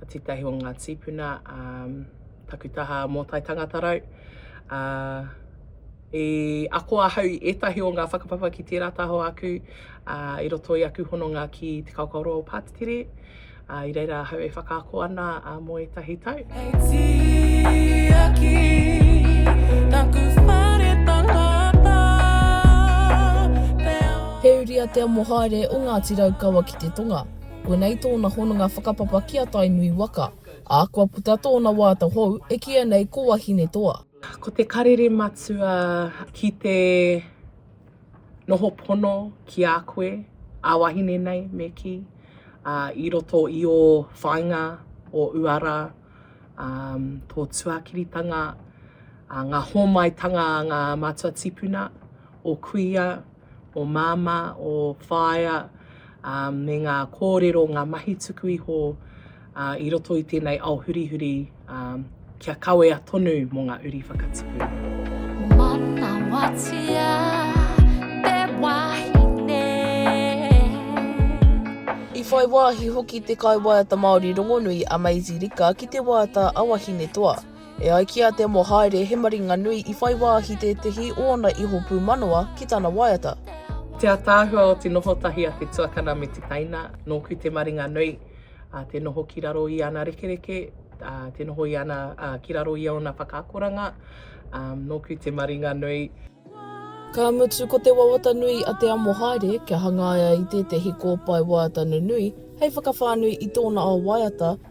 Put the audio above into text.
a tētahi o ngā tīpuna a taku taha mō Tai Tangata Rau. A, i ako ahau i ētahi o ngā whakapapa ki tērā taho aku a, i roto i aku hononga ki Te Kaokaoroa o Pātitiri. A, i reira ahau e whakaako ana a, mō ētahi tau. Hei tiaki taku whare tangata, te ao. He uri a Te Amohaere o Ngāti Raukawa ki te tonga. Koinei tōna hononga whakapapa ki a Tainui waka, ā, kua puta tōna wāta hou e kīia nei ko Wahinetoa. Ko te karere matua ki te noho pono ki a koe, a wahine nei me kī, ā, i roto i ō whāinga o uara, ā, tō tuakiritanga, ā, ngā hōmaitanga a ngā mātua tīpuna, ō kuia, o Māmā, o Whaea, ā, me ngā kōrero, ngā mahi tuku iho ā, i roto i tēnei ao hurihuri ā, kia kawea tonu mō ngā uri whakatipu. Manawatia te wahine. I whai wāhi hoki te kaiwaiata Māori rongonui a Maisie Rika ki te waiata a Wahinetoa. E ai ki a Te Mohaere, he maringa nui i whai wāhi tētehi o ōna iho pūmanawa ki tana waiata. Te ataahua o te noho tahi a te tuakana me te teina, nōku te maringa nui, te noho ki raro i ana rekereke, te noho i ana, ki raro i ōna whakaakoranga, nōku te maringa nui. Ka mutu ko te wawata nui a Te Amohaere kia hangaia i tētehi kōpae waiata nunui hei whakawhānui i tōna ao waiata,